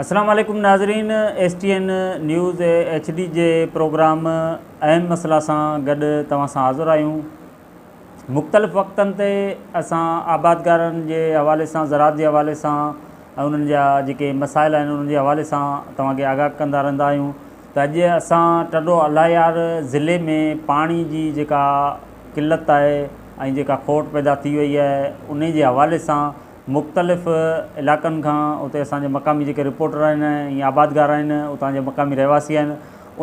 السلام عليڪم ناظرين S T N news H D جي پروگرام اهم مسئلا سان گڏ توهان سان حاضر آهيون مختلف وقتن تي اسان آبادگارن جي حوالي سان زراعت جي حوالي سان انهن جا جيڪي مسائل آهن انهن جي حوالي سان توهان کي آگاهه ڪندا رهندا آهيون ته اڄ اسان ٽنڊو الايار ضلعي ۾ پاڻي جي جيڪا قلت آهي ۽ جيڪا کوٽ پيدا ٿي وئي آهي ان جي حوالي سان مختلف علائقن کان اتي اسان جي مقامي جيڪي رپورٽر آهن ۽ آبادگار آهن اتان جا مقامي رهواسي آهن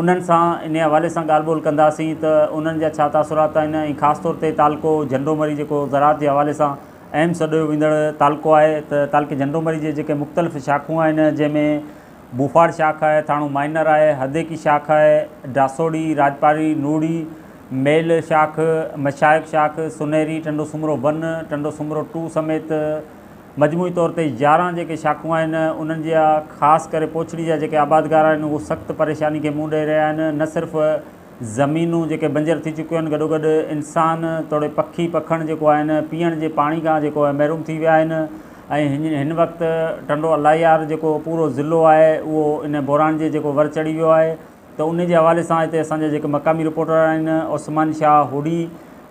انهن سان انهي حوالي سان ڳالهه ٻولهه ڪنداسين ته انهن جا ڇا تاثرات آهن ۽ خاص طور تي تعلقو جهنڊو مري جيڪو زراعت جي حوالي سان اهم سڏيو ويندڙ تعلقو آهي ته تعلقي جهنڊو مري جي جيڪي مختلف شاخون آهن جنهن ۾ موفاڙ شاخ آهي، ٿاڻو مائنر آهي، هديڪي شاخ آهي، ڊاسوڙي، راڄپاري، نوڙي، ميل شاخ، مشائخ شاخ، سنهري، ٽنڊو سومرو ون، ٽنڊو سومرو ٽو سميت مجموعي طور تي يارهن جيڪي شاخون آهن انهن جا خاص ڪري پوڇڙي جا جيڪي آبادگار آهن اهو سخت پريشاني کي منهن ڏئي رهيا آهن نه صرف زمينون جيڪي بنجر ٿي چڪيون آهن گڏوگڏ انسان توڙي پکي پکڻ جيڪو آهن پيئڻ جي پاڻي کان جيڪو آهي محروم ٿي ويا آهن ۽ هن وقت ٽنڊو الاهيار جيڪو پورو ضلعو آهي اهو ان بحران جي جيڪو ور چڙهي ويو آهي ته ان جي حوالي سان هتي اسان جا جيڪي مقامي رپورٽر آهن عثمان شاهه هوڏي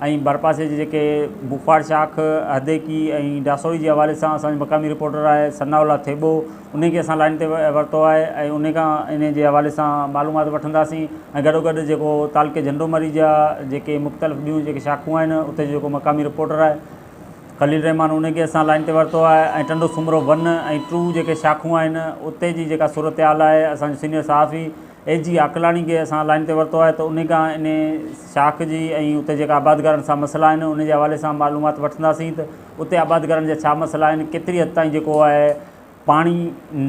۽ ڀرپاسي جي جيڪي بخار شاخ، هديڪي ۽ ڊاسوئي جي حوالي سان اسان جو مقامي رپورٽر آهي ثناء الله ٿيٻو انهي کي اسان لائين تي ورتو آهي ۽ انهي کان انهي جي حوالي سان معلومات وٺنداسين ۽ گڏوگڏ جيڪو تعلقي جهنڊومري جا جيڪي مختلف ٻيون جيڪي شاخون آهن اتي جو جيڪو مقامي رپورٽر آهي خليل رحمان انهي کي اسان لائين تي ورتو آهي ۽ ٽنڊو سومرو ون ۽ ٽو جيڪي شاخون آهن اتي جي جيڪا صورتحال آهي اسان جو سينيئر صحافي اي جي عاقلاڻي کي اسان لائين تي ورتو آهي ته انهي کان انهي شاخ جي ۽ اتي جيڪا آبادگارن سان مسئلا آهن ان جي حوالي سان معلومات وٺنداسين ته اتي آبادگارن جا ڇا مسئلا آهن ڪيتري حد تائين جيڪو آهي پاڻي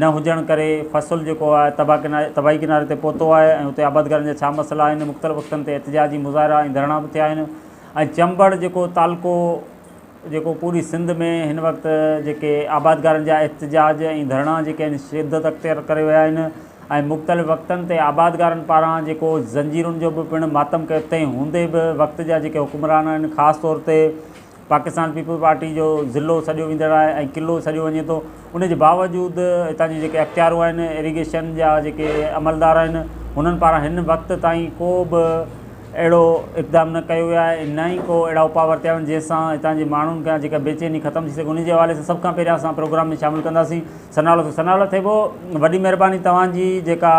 نه هجڻ ڪري فصل جيڪو آهي تباهه ڪناري تباهي ڪناري تي پهتو آهي ۽ اتي آبادگارن جا ڇا مسئلا آهن مختلف وقتن تي احتجاجي مظاهرا ۽ ڌرڻا به ٿيا آهن ۽ چمبڙ جيڪو تعلقو جيڪو پوري سنڌ ۾ هن وقت جيڪي آبادگارن جا احتجاج ۽ ڌرڻا جيڪي آهن شدت اختيار ڪري ويا آهن ۽ مختلف وقتن تي آبادگارن پاران جيڪو زنجيرن جو به پڻ ماتم ڪيو تنهن هوندي به وقت جا جيڪي حڪمران آهن خاص طور تي پاڪستان پيپلز پارٽي جو ضلعو سڏيو ويندڙ آهي ۽ قلعو سڏيو وڃي ٿو ان جي باوجود اتان جي جيڪي اختيارو آهن ايريگيشن جا جيڪي عملدار آهن هنن پاران هن وقت تائين ڪو به اهڙو اقدام نه ڪيو ويو آهي نه ئي ڪو اهڙا اپاء ورتيا ويا آهن جنهن سان هتان جي ماڻهن کان جيڪا بيچيني ختم ٿي سگهي ان جي حوالي سان سڀ کان پهريان اسان پروگرام ۾ شامل ڪنداسين ثناء الله ثناء الله ٿيٻو وڏي مهرباني توهان جي جيڪا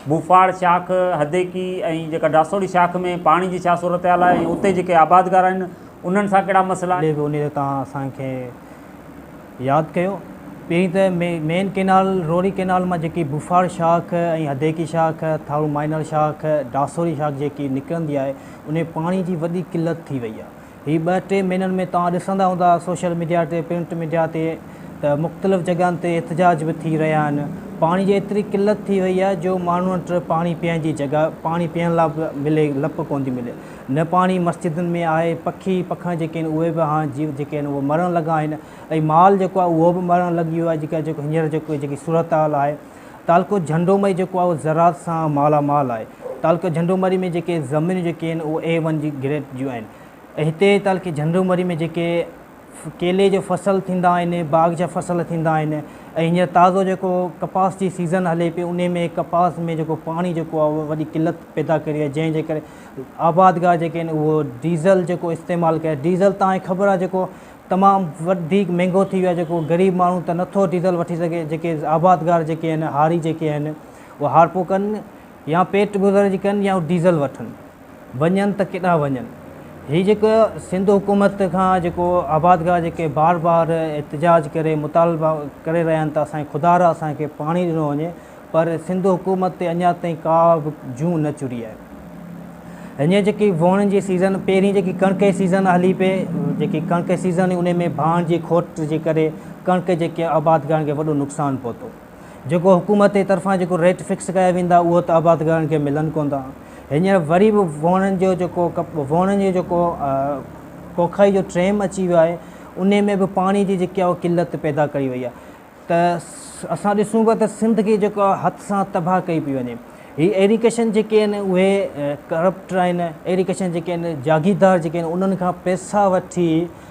ڀوپاڙ شاخ هديڪي ۽ جيڪا ڊاسوڙي شاخ ۾ پاڻي جي ڇا صورتحال آهي ۽ اتي جيڪي آبادگار آهن انهن سان ڪهڙا مسئلا آهن ان تي توهان اسان کي ياد ڪيو. پهرين ته مين ڪئنال، روهڙي ڪئنال مان جيڪي بوفاڙ شاخ ۽ هديڪي شاخ، ٿارو مائنر شاخ، ڊاسوري شاخ جيڪي نڪرندي آهي، انهي پاڻي جي وڏي قلت ٿي وئي آهي. هي ٻه ٽي مهينن ۾ توهان ڏسندا هوندا سوشل ميڊيا تي، پرنٽ ميڊيا تي ته مختلف جڳهن تي احتجاج به ٿي رهيا آهن. پاڻي جي ايتري قلت ٿي وئي آهي جو ماڻهن وٽ پاڻي پيئڻ جي جڳهه، پاڻي پيئڻ لا به ملي لپ ڪونه ٿي ملي. نه پاڻي مسجدن ۾ آهي، پکي پکڻ جيڪي آهن اهي به هاڻ جيو جيڪي آهن اهي مرڻ لڳا آهن ۽ مال جيڪو آهي اهو به مرڻ لڳي ويو آهي جيڪا جيڪو هينئر جيڪو جيڪي صورتحال آهي تعلقو جهنڊو مئي جيڪو آهي اهو زراعت سان مالا مال آهي تعلقي جهنڊو مري ۾ جيڪي زمينون جيڪي آهن اهي اي ون جي گريڊ جون آهن ۽ هتي تعلقي جهنڊو مري ۾ جيڪي ڪيلي جو فصل ٿيندا آهن باغ جا فصل ٿيندا آهن ۽ هينئر تازو جيڪو ڪپاس جي سيزن هلي پئي انهي ۾ ڪپاس ۾ جيڪو پاڻي جيڪو آهي وڏي قلت پيدا ڪري آهي جنهن جي ڪري آبادگار جيڪي آهن اهو ڊيزل جيڪو استعمال ڪري ڊيزل تان کي خبر آهي جيڪو تمام وڌيڪ مهنگو ٿي ويو آهي جيڪو غريب ماڻهو ته نٿو ڊيزل وٺي سگهي جيڪي آبادگار جيڪي آهن هاري جيڪي آهن اهي هارپو ڪن يا پيٽ گذر جي ڪن يا ڊيزل وٺن وڃن ته ڪيڏانهن وڃن. هي جيڪو سنڌ حڪومت کان جيڪو آبادگار جيڪي بار بار احتجاج ڪري مطالبا ڪري رهيا آهن ته اسانکي خدا را اسان کي پاڻي ڏنو وڃي پر سنڌ حڪومت تي اڃا تائين ڪا به جون نه چڙهي آهي. هينئر جيڪي وهڻ جي سيزن پهرين جيڪي ڪڻڪ جي سيزن هلي پئي جيڪي ڪڻڪ جي سيزن هئي انهي ۾ ڀاڻ جي کوٽ جي ڪري ڪڻڪ جيڪي آبادگارن کي وڏو نقصان پهتو. جيڪو حڪومت جي طرفان جيڪو ريٽ فڪس ڪيا ويندا اهو ته آبادگارن کي ملن ڪون ٿا هينئر وري به وهڻن جو جيڪو وهڻن جو جيڪو ڪوکائي جو ٽريم اچي ويو آهي ان ۾ به پاڻي جي جيڪي اهو قلت پيدا ڪئي وئي آهي ته اسان ڏسون پيا ته سنڌ کي جيڪو هٿ سان تباهه ڪئي پئي وڃي هي ايريگيشن جيڪي آهن اهي ڪرپٽ آهن ايريگيشن جيڪي آهن جاگيردار جيڪي آهن انهن کان پيسا وٺي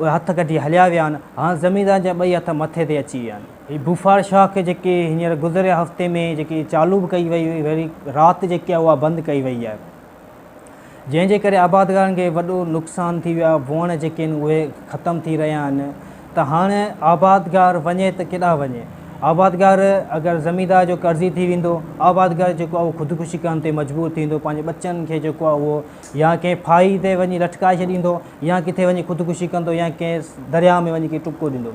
اهي هٿ ڪڍي هليا ويا آهن، هاڻ زميندارن جا ٻئي هٿ مٿي تي اچي ويا آهن. هي بوفار شاخ جيڪي هينئر گذريل هفتي ۾ جيڪي چالو به ڪئي وئي هئي وري رات جيڪي آهي اها بند ڪئي وئي آهي جنهن جي ڪري آبادگارن کي وڏو نقصان ٿي ويو آهي ووڻ جيڪي آهن اهي ختم ٿي رهيا آهن ته هاڻ آبادگار وڃي ته ڪيڏانهن وڃي آبادگار اگر زميندار جو قرضي ٿي ويندو آبادگار جيڪو آهي اهو خودڪشي ڪرڻ تي مجبور ٿي ويندو پنهنجي ٻچن کي جيڪو آهي اهو يا ڪنهن ڦاهي تي وڃي لٽڪائي ڇڏيندو يا ڪٿي وڃي خودڪشي ڪندو يا ڪنهن درياء ۾ وڃي ڪنهن ٽپڪو ڏيندو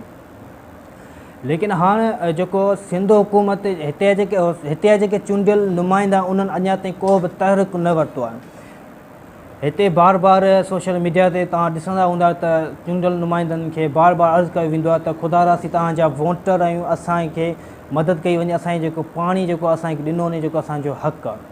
ليڪن هاڻ جيڪو سنڌ حڪومت هتي جيڪي هتي جا جيڪي چونڊيل نمائندا انهن اڃا تائين ڪو به تحرڪ نه ورتو آهي هتي بار بار سوشل ميڊيا تي توهان ڏسندا هوندا ته چونڊيل نمائندن کي بار بار عرض ڪيو ويندو آهي ته خدا راسي توهان جا ووٽر آهيون اسانکي مدد ڪئي وڃي اسانجي جيڪو پاڻي جيڪو اسانکي ڏنو وڃي جيڪو اسانجو حق آهي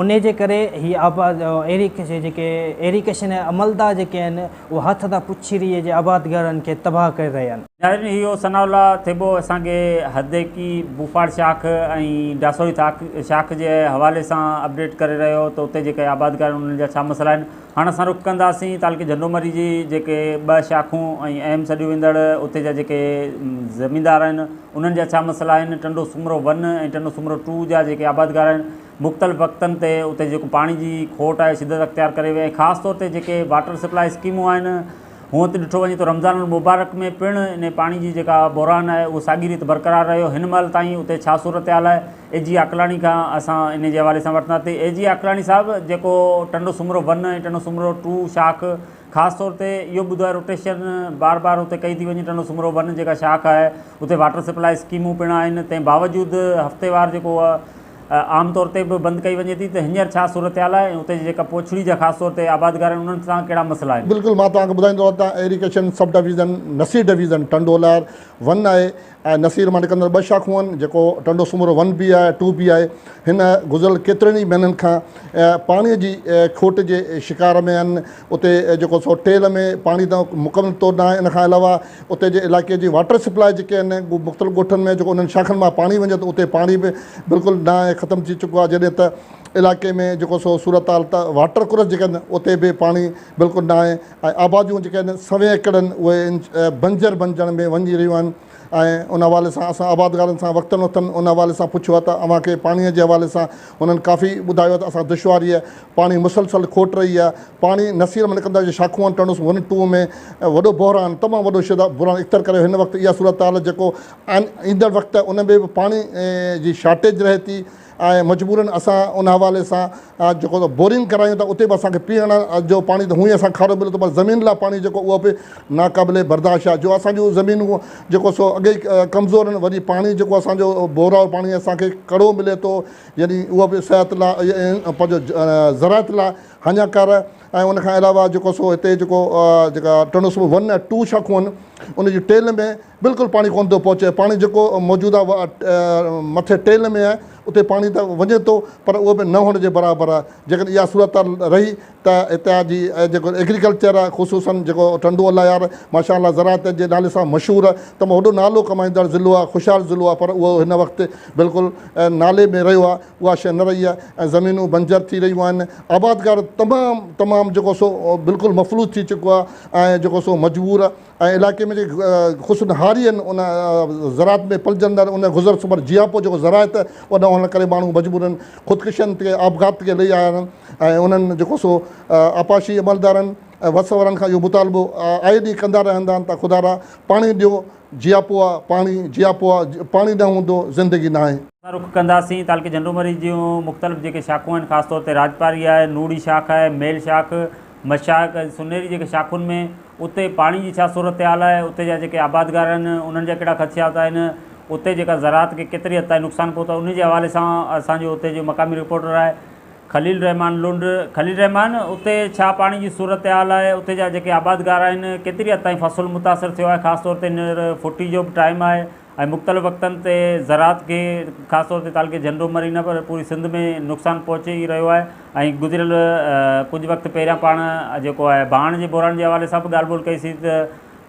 انهي جي ڪري هي آباد ايريڪشن جيڪي ايريڪشن عملدار جيڪي آهن اهي هٿ تان پڇيري جي آبادگارن کي تباهه ڪري رهيا آهن. ناظرين اهو ثناء الله ٿيٻو اسان کي هديڪي ڀوپاڙ شاخ ۽ ڊاسوري شاخ جي حوالي سان اپڊيٽ ڪري رهيو هو ته اتي جيڪي آبادگار آهن انهن جا ڇا مسئلا آهن. هاڻ اسان رخ ڪنداسين تعلقي جهنڊومري جي جيڪي ٻه شاخون ۽ اهم سڏيون ويندڙ اتي جا جيڪي زميندار آهن انهن جا ڇا مسئلا آهن ٽنڊو سومرو ون ۽ ٽنڊو سومرو ٽو جا جيڪي آبادگار آهن مختلف وقتن تي اتي جيڪو پاڻي جي کوٽ آهي شدت اختيار ڪري وئي آهي خاص طور تي جيڪي واٽر سپلاء اسڪيمون آهن هونئن ته ڏٺو وڃي ته رمضان المبارڪ ۾ پڻ انهي پاڻي جي جيڪا بحران آهي اهو ساڳي ريت برقرار رهيو هن مهل تائين اتي ڇا صورتحال آهي اي جي عقلاڻي کان اسان انهي جي حوالي سان وٺنداسين اي جي عقلاڻي صاحب جيڪو ٽنڊو سومرو ون ۽ ٽنڊو سومرو ٽو شاخ خاص طور تي اهو ٻڌو روٽيشن بار بار اتي ڪئي ٿي وڃي ٽنڊو سومرو ون جيڪا شاخ آهي اتي واٽر سپلاء اسڪيمون پڻ آهن تنهن باوجود هفتيوار جيڪو عام طور تي به بند ڪئي وڃي ٿي ته هينئر ڇا صورتحال آهي ۽ اتي جي جيڪا پوڇڙي جا خاص طور تي آبادگار آهن انهن سان ڪهڙا مسئلا آهن. بلڪل مان توهان کي ٻڌائيندو رهان ته irrigation sub division Naseer division Tando Lahar one آهي ۽ نصير مان نڪرندڙ ٻه شاخون آهن جيڪو ٽنڊو سومرو ون بي آهي ٽو بي آهي هن گذريل ڪيترن ئي مهينن کان پاڻي جي کوٽ جي شڪار ۾ آهن اتي جيڪو سو ٽيل ۾ پاڻي ته مڪمل طور ناهي ان کان علاوه اتي جي علائقي جي واٽر سپلاء جيڪي آهن مختلف ڳوٺن ۾ جيڪو انهن شاخن مان پاڻي وڃي ٿو اتي پاڻي به بلڪل ناهي ختم ٿي چڪو آهي جڏهن ته علائقي ۾ جيڪو سو صورتحال ته واٽر ڪورس جيڪي آهن اتي به پاڻي بلڪل ناهي ۽ آباديون جيڪي آهن سوين ايڪڙ آهن اهي بنجر بنجڻ ۾ وڃي رهيون آهن ۽ ان حوالي سان اسان آبادگارن سان وقتن وقتن ان حوالي سان پڇيو آهي ته اوهان کي پاڻي جي حوالي سان انهن ڪافي ٻڌايو آهي ته اسان دشواري آهي پاڻي مسلسل کوٽ رهي آهي پاڻي نصير ۾ نڪرندو آهي جيئن شاخوان ٽنوس ون ٽو ۾ وڏو بحران تمام وڏو شدت بحران اختيار ڪريو هن وقت اها صورتحال جيڪو ايندڙ وقت ان ۾ به پاڻي جي شارٽيج رهي ٿي ۽ مجبورن اسان ان حوالي سان جيڪو بورنگ ڪرايون ٿا اتي به اسانکي پيئڻ جو پاڻي ته هونئن اسانکي کارو ملي ٿو پر زمين لاء پاڻي جيڪو اهو به ناقابل برداشت آهي جو اسان جون زمينون جيڪو سو اڳي ئي ڪمزور آهن وري پاڻي جيڪو اسانجو بورا جو پاڻي اسانکي ڪڙو ملي ٿو يعني اهو به صحت لاء پنهنجو زراعت لاء هاڃاڪار آهي ۽ ان کان علاوه جيڪو سو هتي جيڪو جيڪا ٽنڊو سو ون ٽو شاخون آهن ان جي ٽيل ۾ بلڪل پاڻي ڪونه ٿو پهچي پاڻي جيڪو موجود آهي اها مٿي ٽيل ۾ آهي اتي پاڻي ته وڃي ٿو پر اهو به نه هئڻ جي برابر آهي جيڪڏهن اها صورتحال رهي ته هتي جا جي جيڪو ايگريڪلچر آهي خصوصن جيڪو ٽنڊو الله يار ماشاء الله زراعت جي نالي سان مشهور آهي ته مون وڏو نالو ڪمائيندڙ ضلعو آهي خوشحال ضلعو آهي پر اهو هن وقت بلڪل نالي ۾ رهيو آهي اها شيء نه رهي آهي ۽ زمينون بنجر ٿي رهيون آهن آبادگار تمام تمام جيڪو سو بلڪل مفلوج ٿي چڪو آهي ۽ جيڪو سو مجبور آهي ۽ علائقي ۾ جيڪي غصن هاري هن ان زراعت ۾ پلجندڙ ان گذر سمر جياپو جيڪو زراعت وڏا هئڻ ڪري ماڻهو مجبورن خودڪشين تي آپگهات تي لهي آيا آهن ۽ انهن جيڪو سو آبپاشي عملدارن ۽ وس وارن کان اهو مطالبو آئي ڏينهن ڪندا رهندا آهن ته خدارا پاڻي ڏيو جياپو آ پاڻي جياپو آ پاڻي نه هوندو زندگي ناهي. اسان رخ ڪنداسين تعلقي جهنڊومري جون مختلف جيڪي شاخون آهن خاص طور تي راڄپاري آهي نوڙي شاخ آهي ميل شاخ مشائخ ۽ سني جي جيڪي شاخن ۾، اتي پاڻي جي ڇا صورتحال آهي، اتي جا جيڪي آبادگار آهن، انهن جا ڪهڙا خدشات آهن، اتي جيڪا زراعت کي ڪيتري حد تائين نقصان پهتو آهي، انهي جي حوالي سان اسان جو اتي جو مقامي رپورٽر آهي خليل الرحمان لنڊ، خليل الرحمان اتي ڇا پاڻي جي صورتحال آهي، اتي جا جيڪي آبادگار آهن، ڪيتري حد تائين فصل متاثر ٿيو آهي، خاص طور تي هينئر ڦٽي جو به ٽائيم آهي، ۽ مختلف وقتن تي زراعت کي خاص طور تي تعلقي جهنڊو مري نه پر پوري سنڌ ۾ نقصان پهچي ئي رهيو آهي ۽ گذريل ڪجهه وقت پهريان پاڻ جيڪو آهي ڀاڻ جي بحران جي حوالي سان به ڳالهه ٻولهه ڪئي سي ته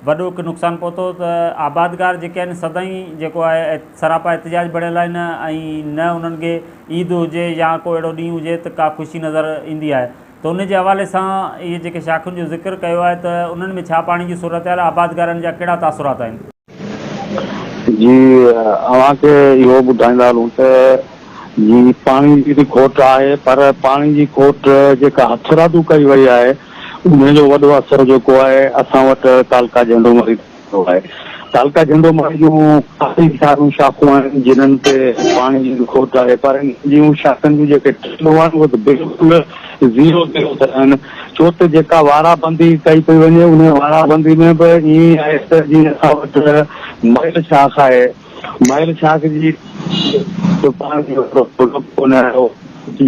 وڏو هڪ نقصان پهتو ته آبادگار جيڪي آهن سدائين جيڪو آهي سراپا احتجاج بڻيل آهن ۽ نه انهن کي عيد هجي يا ڪو اهڙو ڏينهن هجي ته ڪا خوشي نظر ايندي آهي ته ان جي حوالي سان اهي جيڪي شاخن جو ذڪر ڪيو آهي ته انهن ۾ ڇا پاڻي جي صورتحال آبادگارن جا ڪهڙا تاثرات آهن. جي اوهان کي اهو ٻڌائيندا هلون ته جي پاڻي جي به کوٽ آهي پر پاڻي جي کوٽ جيڪا هٿرادو ڪئي وئي آهي ان جو وڏو اثر جيڪو آهي اسان وٽ تعلقه جهنڊو مڙي تي پيو آهي. تعلقه جهنڊو مڙي جون ڪافي ساريون شاخون آهن جنهن تي پاڻي جي کوٽ آهي پر انهن جون شاخن جون جيڪي ٽنڊون آهن اهي ته بلڪل زيرو زيرو تي آهن. ڇو ته جيڪا وارا بندي ڪئي پئي وڃي ان وارا بندي ۾ به ائين آهي ته جيئن اسان وٽ مئل شاخ آهي مئل شاخ جي به پاڻ ۾ ڪو ڪونه آهيو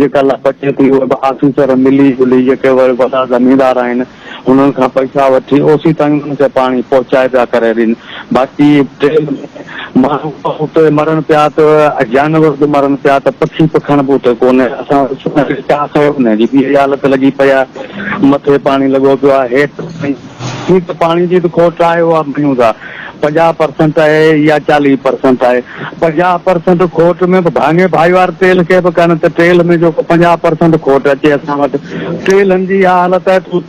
جيڪا لا بچي ٿي اهي به آفيسر ملي جلي جيڪي وري وڏا زميندار آهن انهن کان پئسا وٺي اوسيتائين انهن کي پاڻي پهچائي پيا ڪري ڏين باقي ٽرين ۾ ماڻهو به اتي مرن پيا ته جانور به مرن پيا ته پکي پکڻ به اتي ڪونهي اسان چاهه کيو نه جي بي حالت لڳي پئي آهي مٿي پاڻي لڳو پيو آهي هيٺ ته پاڻي جي ته کوٽ آهي اها مڃون ٿا پنجاهه پرسنٽ آهي يا چاليهه پرسنٽ آهي پنجاهه پرسنٽ کوٽ ۾ به ڀاڱي ڀائيوار تيل کي به ڪن ته تيل ۾ جيڪو پنجاهه پرسنٽ کوٽ اچي اسان وٽ تيلن جي اها حالت آهي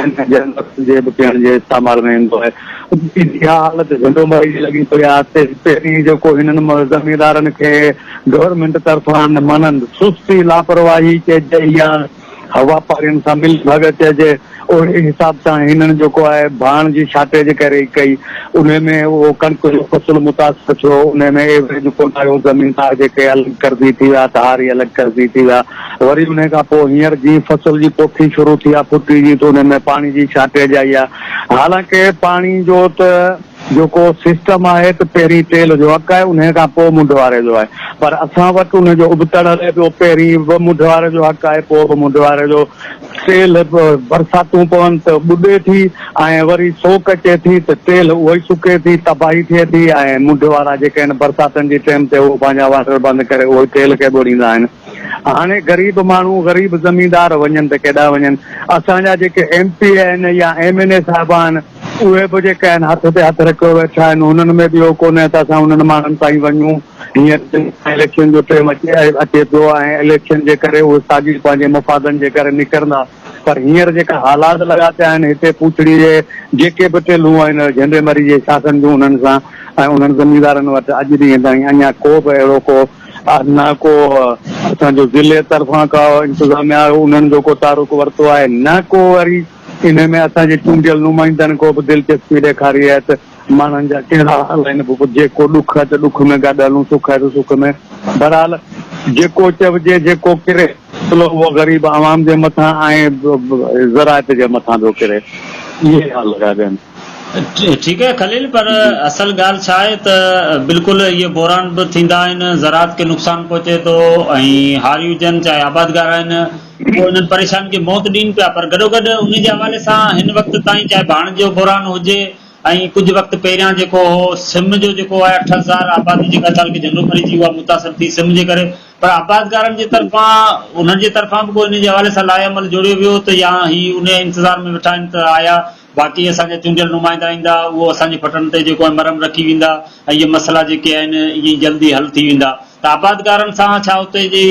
۽ جنھن وقت جي به پيئڻ جي استعمال ۾ ايندو آھي. اتي جي اھا حالت جھنڊو ماري جي لڳي پئي آھي. تي پهرين جيڪو ھنن زميندارن کي گورنمينٽ طرفان مانند سستي، لاپرواھي چئجي يا واپارين سان ملي ڀڳت چئجي اھڙي حساب سان ھنن جيڪو آھي ڀاڻ جي شارٽيج ڪري ئي ڪئي. انھي ۾ اھو ڪڻڪ جو فصل متاثر ٿيو. انھي ۾ ايوریج ڪونه آيو. زميندار جيڪي الڳ قرضي ٿي ويا ڌاري الڳ قرضي ٿي ويا. وري انهي کان پوء هينئر جيئن فصل جي پوکي شروع ٿي آ ڦٽي جي ته انهي ۾ پاڻي جي شارٽيج آئي آ حالانڪه پاڻي جو ته جيڪو سسٽم آهي ته پهرين ٽيل جو اڪ آهي انهي کان پوء منڍ واري جو آهي پر اسان وٽ ان جو ابتڙ هلي پيو پهرين به منڍ واري جو حق آهي پوء به منڍ واري جو ٽيل برساتون پون ته ٻڏي ٿي ۽ وري سوڪ اچي ٿي ته ٽيل اهو ئي سڪي ٿي تباهي ٿئي ٿي ۽ منڍ وارا جيڪي آهن برساتن جي ٽيم تي اهو پنهنجا واٽر بند ڪري اهو ٽيل کي ٻوڙيندا آهن هاڻي غريب ماڻهو غريب زميندار وڃن ته ڪيڏانهن وڃن. اسان جا جيڪي ايم پي اي آهن يا ايم اين اي صاحب آهن اهي به جيڪي آهن هٿ تي هٿ رکيو ويٺا آهن هنن ۾ به اهو ڪونهي ته اسان هنن ماڻهن تائين وڃون. هينئر اليڪشن جو ٽيم اچي پيو آهي اليڪشن جي ڪري اهي ساڳي پنهنجي مفادن جي ڪري نڪرندا پر هينئر جيڪا حالات لڳا پيا آهن هتي پوڇڙي جي جيڪي به ٽيلون آهن جهنڊي مري جي شاخن جون انهن سان ۽ انهن زميندارن وٽ اڄ ڏينهن تائين اڃا ڪو به اهڙو ڪو نه ڪو اسان جو ضلعي طرفان ڪا انتظاميا انهن جو ڪو تعرق ورتو آهي نه ڪو وري انهي ۾ اسان جي چونڊيل نمائندن ڪو به دلچسپي ڏيکاري آهي ته ماڻهن جا ڪهڙا حال آهن پوء جيڪو ڏک آهي ته ڏک ۾ گڏ هلون سک آهي ته سک ۾، بهرحال جيڪو چئجي جيڪو ڪري. ڀلو اهو غريب عوام جي مٿان ۽ زراعت جي مٿان پيو ڪري. اهي ٿا لڳا ڏين. ٺيڪ آهي خليل پر اصل ڳالهه ڇا آهي ته بلڪل اهي بحران به ٿيندا آهن زراعت کي نقصان پهچي ٿو ۽ هاري هجن چاهي آبادگار آهن اهو انهن پريشانين کي موت ڏين پيا پر گڏوگڏ انهي جي حوالي سان هن وقت تائين چاهي ڀاڻ جو بحران هجي ۽ ڪجهه وقت پهريان جيڪو هو سم جو جيڪو آهي اٺ هزار آبادي جيڪا تعلقي جهنڊو پري جي اها متاثر ٿي سم جي ڪري پر آبادگارن جي طرفان انهن جي طرفان به ڪو ان جي حوالي سان لائحهعمل جوڙيو ويو ته يا هي انهيء انتظار ۾ ويٺا آهن ته آيا باقي اسان جا چونڊيل نمائندا ايندا، اهو اسان جي ڦٽن تي جيڪو آهن مرهم رکي ويندا ۽ اهي مسئلا جيڪي آهن ائين ئي جلدي حل ٿي ويندا ته آبادگارن سان ڇا اتي جي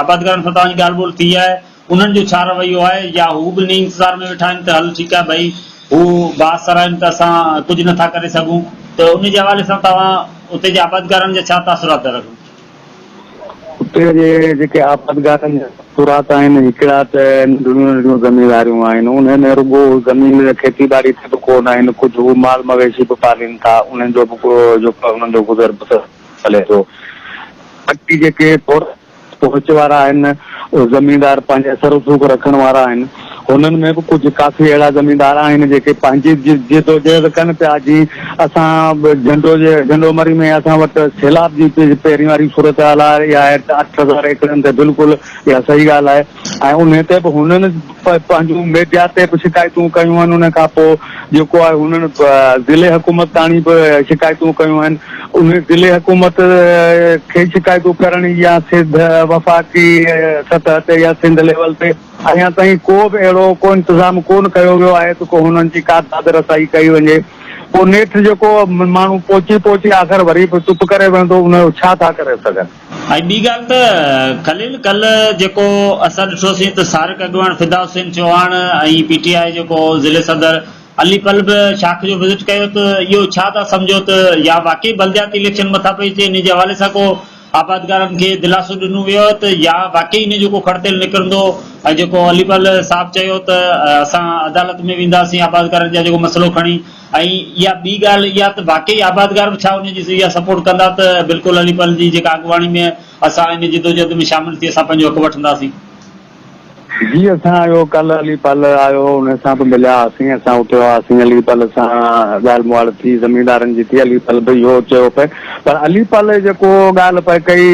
آبادگارن سان توهان جي ڳالهه ٻولهه ٿي آهي؟ انهن جو ڇا رويو آهي يا هو به انهي انتظار ۾ ويٺا آهن ته هل ٺيڪ آهي ڀئي هو باس سراين ته اسان ڪجهه نه ٿا ڪري سگهون ته انهي جي حوالي سان توهان اتي جي آبادگارن جا ڇا تاثرات ٿا رکو؟ اتي جي جيڪي آبادگارن جا تاثرات آهن هڪڙا ته ننڍڙيون ننڍڙيون زمينداريون آهن انهن ۾ رڳو زمين کيتي ٻاڙي تي به ڪو نه آهن ڪجهه هو مال مويشي به پالين ٿا انهن جو به جيڪو آهي انهن جو گذر بسر هلي ٿو باقي جيڪي پهچ وارا آهن، اهي زميندار پنهنجي اثر رسوخ رکڻ وارا آهن. هنن ۾ به ڪجهه ڪافي اهڙا زميندار آهن، جيڪي پنهنجي جدوجهد ڪن پيا، جيئن اسان جهنڊو جي جهنڊو مري ۾ اسان وٽ سيلاب جي پهرين واري صورتحال آهي، اها آهي اٺ هزار ايڪڙن تي بلڪل اها صحيح ڳالهه آهي. ۽ انهي تي به هنن پنهنجون ميڊيا تي به شڪايتون ڪيون آهن ان کان پوء جيڪو آهي هنن ضلعي حڪومت تاڻي به شڪايتون ڪيون آهن انهي ضلعي حڪومت کي شڪايتون ڪرڻ يا سڌ وفاقي سطح تي يا سنڌ ليول تي اڃا تائين ڪو به اهڙو ڪو انتظام ڪون ڪيو ويو آهي ته ڪو هنن جي ڪا داد رسائي ڪئي وڃي پوء نيٺ جيڪو ماڻهو پهچي پهچي آخر وري به چپ ڪري ويندو ان جو ڇا ٿا ڪري سگهن. ۽ ٻي ڳالهه ته خليل ڪلهه جيڪو اسان ڏٺوسين ته سارڪ اڳواڻ فدا حسين چوهاڻ ۽ پي ٽي آء جيڪو ضلعي صدر علي پل به شاخ جو وزٽ ڪيو ته اهو ڇا ٿا سمجهو ته يا واقعي بلدياتي اليڪشن مٿان پئي اچي انهي جي حوالي سان ڪو آبادگارن کي دلاسو ڏنو ويو آهي ته يا واقعي انهي جو ڪو کڙ تيل نڪرندو ۽ جيڪو علي پل صاحب چيو ته اسان عدالت ۾ وينداسين آبادگارن جا جيڪو مسئلو کڻي ۽ اها ٻي ڳالهه اها ته واقعي آبادگار به ڇا ان جي اها سپورٽ ڪندا ته بلڪل علي پل جي جيڪا اڳواڻي ۾ اسان ان جدوجهد ۾ شامل ٿي اسان پنهنجو حق وٺنداسين. جي اسان اهو ڪلهه علي پل آيو هو ان سان به مليا هئاسين اسان اتي هئاسين علي پل سان ڳالهه مهاڙ ٿي زميندارن جي ٿي علي پل به اهو چيو پئي پر علي پل جيڪو ڳالهه پئي ڪئي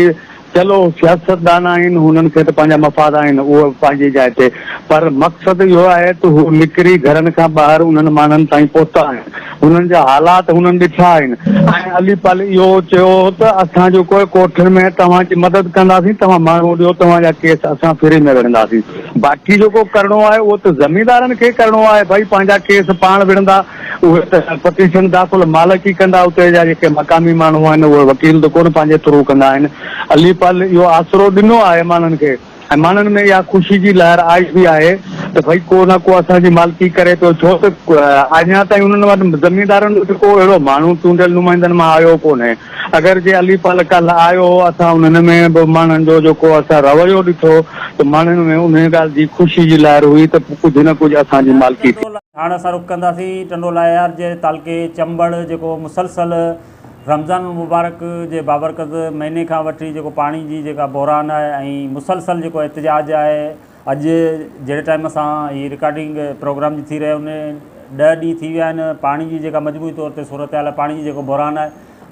چلو سياستدان آهن هنن کي ته پنهنجا مفاد آهن اهو پنهنجي جاء تي پر مقصد اهو آهي ته هو نڪري گهرن کان ٻاهر انهن ماڻهن تائين پهتا آهن هنن جا حالات هنن ڏٺا آهن ۽ علي پل اهو چيو هو ته اسان جو ڪوئي ڪوٺن ۾ توهان جي مدد ڪنداسين توهان ماڻهو ڏيو توهان جا ڪيس اسان فري ۾ وڙهنداسين باقي جيڪو ڪرڻو آهي اهو ته زميندارن کي ڪرڻو آهي ڀائي پنهنجا ڪيس پاڻ وڙهندا اهي ته پٽيشن داخل مالڪ ئي ڪندا، اتي جا جيڪي مقامي ماڻهو آهن اهي وڪيل ته ڪونه پنهنجي ٿرو ڪندا آهن. علي پل اهو آسرو ڏنو آهي ماڻهن کي ۽ ماڻهن ۾ اها خوشي جي لهر آئي به آهي ته ڀئي ڪو نه ڪو اسان جي مالڪي ڪري پيو ڇو ته اڃا تائين انهن وٽ زميندارن وٽ ڪو اهڙو ماڻهو چونڊيل نمائندن مان آيو ڪونهي اگر جي علي پل ڪالهه آيو هو اسان انهن ۾ به ماڻهن جو جيڪو اسان رويو ڏٺو ته ماڻهن ۾ انهي ڳالهه جي خوشي جي لهر هئي ته ڪجهه نه ڪجهه اسان جي مالڪي ٿي. هاڻ اسان رخ ڪنداسين ٽنڊولاهيار جي تعلقي چمبڙ جيڪو مسلسل رمضان المبارڪ جي بابرڪت مهيني کان وٺي جيڪو پاڻي جي جيڪا بحران آهي ۽ مسلسل جيڪو احتجاج آهي اڄ جهڙي ٽائيم سان هي رڪارڊنگ پروگرام جي ٿي رهي ان ڏهه ڏينهن ٿي ويا آهن پاڻي جي جيڪا مجموعي طور تي صورتحال پاڻي جي جيڪو بحران آهي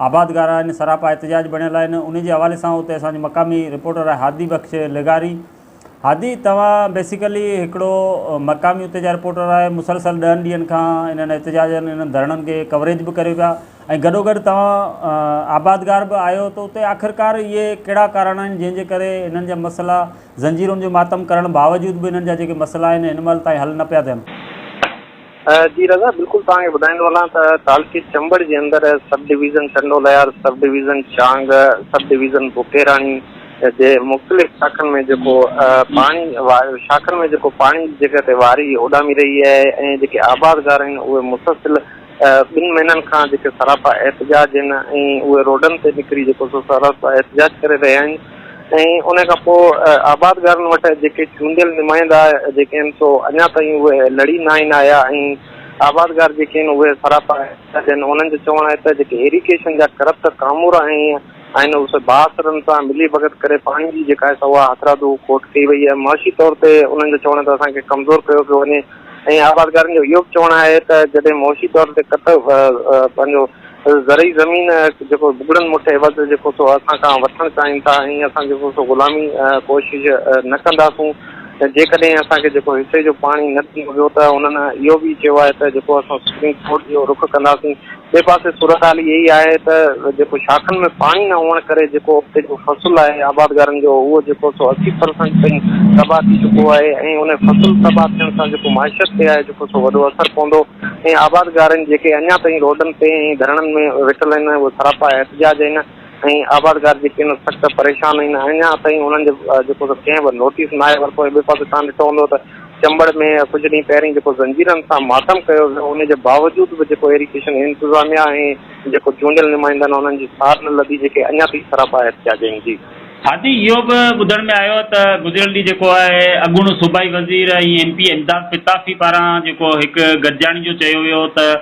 آبادگار آهن سراپا احتجاج بڻيل آهن ان جي حوالي سان اتي اسان جو مقامي رپورٽر آهي هادي بخش لغاري هادي توهان بيسيڪلي هڪڙو مقامي اتي جا رپورٽر آهي مسلسل ڏهن ڏينهن کان انهن احتجاجن انهن ڌرڻن کي ڪوريج به ڪريو پيا ۽ گڏو گڏ توهان آبادگار به آهيو ته اتي آخرڪار اهي ڪهڙا ڪارڻ آهن جنهن جي ڪري انهن جا مسئلا زنجيرن جو ماتم ڪرڻ باوجود به انهن جا جيڪي مسئلا آهن هن مهل تائين حل نه پيا ٿين. جي رضا بلڪل توهان کي ٻڌائيندو هلان ته تعلقي چمبڙ جي اندر sub division Tando ليار، sub division Chang, sub division بوڪيراڻي جي مختلف شاخن ۾ جيڪو پاڻي شاخن ۾ جيڪو پاڻي جي جڳهه تي واري اڏامي رهي آهي ۽ جيڪي آبادگار آهن اهي مسلسل ٻن مهينن کان جيڪي سراپا احتجاج آهن ۽ اهي روڊن تي نڪري جيڪو سو سراپا احتجاج ڪري رهيا آهن ۽ ان کان پوء آبادگارن وٽ جيڪي چونڊيل نمائندا جيڪي آهن سو اڃا تائين اهي لڙي ناهن آيا ۽ آبادگار جيڪي آهن اهي سراپا احتجاجي آهن انهن جو چوڻ آهي ته جيڪي ايريگيشن جا ڪرپٽ ڪامورا آهن اهي بااثرن سان ملي ڀڳت ڪري پاڻي جي جيڪا آهي سا اها هٿرادو کوٽ ڪئي وئي آهي معاشي طور تي انهن جو چوڻ آهي ته اسان کي ڪمزور ڪيو پيو وڃي ائين آبادگارن جو اهو به چوڻ آهي ته جڏهن معاشي طور تي ڪٽ پنهنجو زرعي زمين جيڪو بگڙن مٺ عيوض جيڪو سو اسان کان وٺڻ چاهين ٿا ۽ اسان جيڪو سو غلامي ڪوشش نه ڪنداسون جيڪڏهن اسان کي جيڪو حصي جو پاڻي نه ڏنو ويو ته انهن اهو به چيو آهي ته جيڪو اسان سپريم ڪورٽ جو رخ ڪنداسين ٻئي پاسي صورتحال اها ئي آهي ته جيڪو شاخن ۾ پاڻي نه هئڻ ڪري جيڪو ابتي جو فصل آهي آبادگارن جو اهو جيڪو سو اسي پرسنٽ تائين تباهه ٿي چڪو آهي ۽ ان فصل تباهه ٿيڻ سان جيڪو معيشت تي آهي جيڪو سو وڏو اثر پوندو ۽ آبادگارن جيڪي اڃا تائين روڊن تي ۽ ڌرڻن ۾ ويٺل آهن اهي سراپا احتجاج آهن ۽ آبادگار جيڪي هن سخت پريشان آهن اڃا تائين انهن جو جيڪو سو ڪنهن به نوٽيس ناهي ورتو ۽ ٻئي پاسي توهان ڏٺو هوندو ته چمبڙ ۾ ڪجهه ڏينهن پهرين جيڪو زنجيرن سان ماتم ڪيو ويو ان جي باوجود به جيڪو ايريگيشن انتظاميه ۽ جيڪو چونڊيل نمائندا آهن انهن جي سار نه لڌي جيڪي اڃا تائين سراپا احتجاجين جي ها جي اهو به ٻڌڻ ۾ آيو ته گذريل ڏينهن جيڪو آهي اڳوڻو صوبائي وزير ۽ ايم پي امداد پتافي پاران جيڪو هڪ گڏجاڻي جو چيو ويو ته.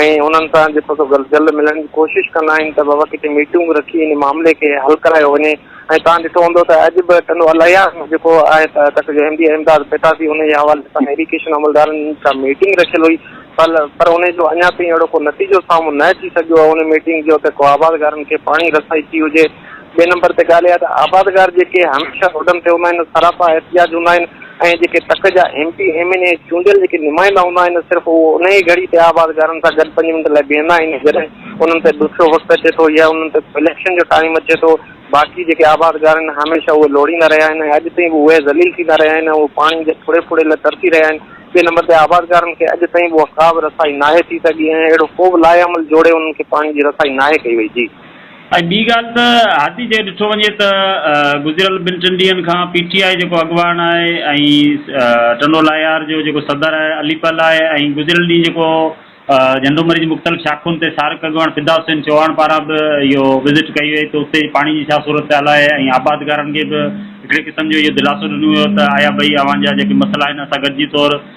۽ انهن سان جي سو گهر جلد ملڻ جي ڪوشش ڪندا آهن ته بابا ڪٿي ميٽنگ به رکي ان معاملي کي حل ڪرايو وڃي ۽ توهان ڏٺو هوندو ته اڄ به ٽنڊو الهيار ۾ جيڪو آهي ته ڪڇ جو M D A Imdad Pitafi ان جي حوالي سان ايڊيوڪيشن عملدارن سان ميٽنگ رکيل هئي پر پر ان جو اڃا تائين اهڙو ڪو نتيجو سامهون نه اچي سگهيو آهي ان ميٽنگ جو ته ڪو آبادگارن کي پاڻي رسائي ٿي هجي ٻئي نمبر تي ڳالهه اها ته آبادگار جيڪي هميشه روڊن تي هوندا آهن، سراپا احتجاج هوندا آهن ۽ جيڪي تڪ جا M P, M N A چونڊيل جيڪي نمائندا هوندا آهن صرف اهو انهيء گهڙي تي آبادگارن سان گڏ پنج منٽ لاء بيهندا آهن جڏهن انهن تي ڏکيو وقت اچي ٿو يا انهن تي اليڪشن جو ٽائيم اچي ٿو باقي جيڪي آبادگار آهن هميشه اهي لوڙيندا رهيا آهن ۽ اڄ تائين به اهي ذليل ٿيندا رهيا آهن ۽ اهي پاڻي جي ڦڙي ڦڙي لاء ترسي رهيا آهن ٻئي نمبر تي آبادگارن کي اڄ تائين به اها ڪا به رسائي ناهي ٿي سگهي ۽ اهڙو ڪو به لائحه عمل جوڙي انهن کي پاڻي جي رسائي ناهي ڪئي وئي جي. ۽ ٻي ڳالهه ته هادي جي ڏٺو وڃي ته گذريل ٻن ٽن ڏينهن کان پي ٽي آء جيڪو اڳواڻ آهي ۽ ٽنڊو لاهيار جو جيڪو صدر آهي علي پل آهي ۽ گذريل ڏينهن جيڪو جهنڊو مري جي مختلف شاخن تي سارڪ اڳواڻ فدا حسين چوهاڻ پاران به اهو وزٽ ڪئي وئي ته اتي پاڻي جي ڇا صورتحال آهي ۽ آبادگارن کي به هڪڙي قسم جو اهو دلاسو ڏنو ويو ته آيا ڀئي اوهان جا جيڪي مسئلا آهن اسان گڏجي طور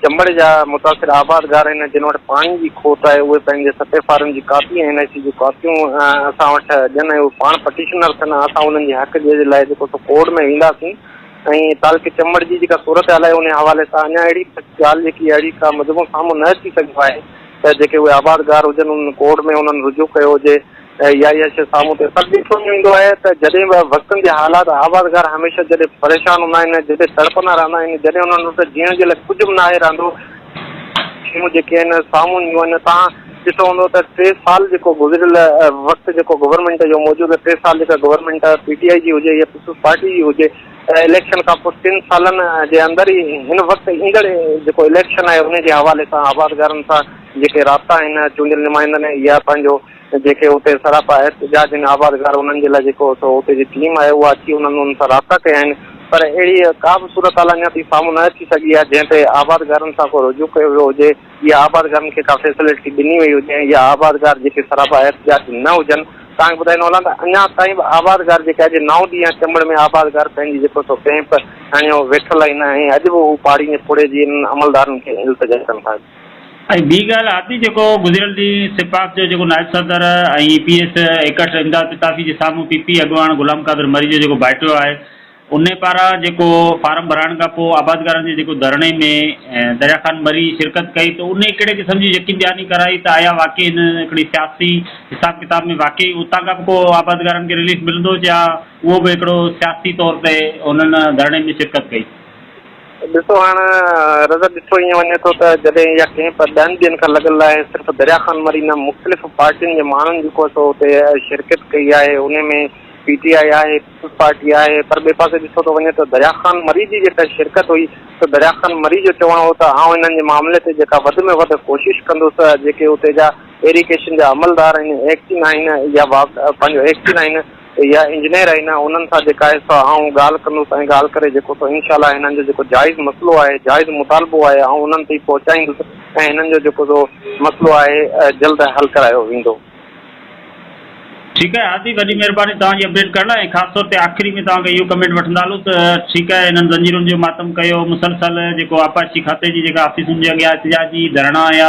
چمبڙ جا متاثر آبادگار آهن جن وٽ پاڻي جي کوٽ آهي اهي پنهنجي سٽي فارم جي ڪاپي ۽ اين اي سي جون ڪاپيون اسان وٽ ڏين ۽ اهي پاڻ پٽيشنر ٿين ۽ اسان انهن جي حق جي لاء جيڪو سو ڪورٽ ۾ وينداسين ۽ تعلقي چمبڙ جي جيڪا صورتحال آهي انهي حوالي سان اڃا اهڙي ڳالهه جيڪي اهڙي ڪا مجموعو سامهون نه اچي سگهيو آهي ته جيڪي اهي آبادگار هجن انهن ڪورٽ ۾ انهن رجوع ڪيو هجي يا يا شيء سامهون ٿئي. پر ڏسڻ ۾ ايندو آهي ته جڏهن به وقتن جي حالات آبادگار هميشه جڏهن پريشان هوندا آهن، جڏهن تڙپندا رهندا آهن، جڏهن انهن وٽ جيئڻ جي لاء ڪجهه به ناهي رهندو، شيون جيڪي آهن سامهون اينديون آهن. توهان ڏٺو هوندو ته ٽي سال جيڪو گذريل وقت جيڪو گورنمينٽ جو موجود ٽي سال جيڪا گورنمينٽ پي ٽي آء جي هجي يا پيپلز پارٽي جي هجي اليڪشن کان پوء ٽن سالن جي اندر ئي هن وقت ايندڙ جيڪو اليڪشن آهي ان جي حوالي سان آبادگارن سان جيڪي رابطا آهن چونڊيل نمائندن يا پنهنجو جيڪي اتي سراپا احتجاج ۽ آبادگار انهن جي لاء جيڪو سو اتي جي ٽيم آهي اها اچي انهن انهن سان رابطا ڪيا آهن پر اهڙي ڪا به صورتحال اڃا تائين سامهون نه اچي سگهي آهي جنهن تي آبادگارن سان ڪو رجوع ڪيو ويو هجي يا آبادگارن کي ڪا فيسلٽي ڏني وئي هجي ۽ يا آبادگار جيڪي سراپا احتجاج نه هجن توهان کي ٻڌائيندو هلان ته اڃا تائين به آبادگار جيڪي اڄ نو ڏينهن چمڙ ۾ آبادگار پنهنجي جيڪو سو ڪئمپ هڻيو ويٺل آهن ۽ اڄ به هو پاڙين جي پوڙهي جي انهن عملدارن کي التجا ڪن ٿا. ۽ ٻي ڳالهه آتي جيڪو گذريل ڏينهن سپاڪ جو جيڪو نائب صدر ۽ P S act Imdad Pitafi جي سامهون پي پي اڳواڻ غلام قادر مري جو جيڪو ڀائٽيو آهي ان پاران جيڪو فارم ڀرائڻ کان پوء آبادگارن جي جيڪو ڌرڻي ۾ دريا خان مري شرڪت ڪئي ته انهي ڪهڙي قسم جي يقين دهاني ڪرائي ته آيا واقعي هن هڪڙي سياسي حساب ڪتاب ۾ واقعي اتان کان به ڪو آبادگارن کي رليف ملندو جا اهو به هڪڙو سياسي طور تي انهن ڌرڻي ۾ شرڪت ڪئي. ڏسو هاڻ رضا ڏٺو ائين وڃي ٿو ته جڏهن اها ڪئمپ ڏهن ڏينهن کان لڳل آهي صرف دريا خان مري نه مختلف پارٽين جي ماڻهن جيڪو سو اتي شرڪت ڪئي آهي انهي ۾ پي ٽي آء آهي پيپلز پارٽي آهي پر ٻئي پاسي ڏٺو ٿو وڃي ته دريا خان مري جي جيڪا شرڪت هئي سو دريا خان مري جو چوڻ هو ته آئون انهن جي معاملي تي جيڪا وڌ ۾ وڌ ڪوشش ڪندس جيڪي اتي جا ايريگيشن جا عملدار آهن ايڪٽين آهن يا پنهنجو ايڪٽين آهن يا انجنيئر آهن انهن سان جيڪا آهي سا آئون ڳالهه ڪندس ۽ ڳالهه ڪري جيڪو سو انشاء الله هنن جو جيڪو جائز مسئلو آهي جائز مطالبو آهي آئون انهن تائين پهچائيندس ۽ هنن جو جيڪو سو مسئلو آهي جلد حل ڪرايو ويندو. ٺيڪ آهي هادي وڏي مهرباني توهان جي اپڊيٽ ڪرڻ لاء ۽ خاص طور تي آخري ۾ توهان کان اهو ڪمينٽ وٺندا هلون ته ٺيڪ آهي هنن زنجيرن جو ماتم ڪيو مسلسل جيڪو آبپاشي کاتي جي جيڪا آفيسن جي اڳيان احتجاجي ڌرڻا يا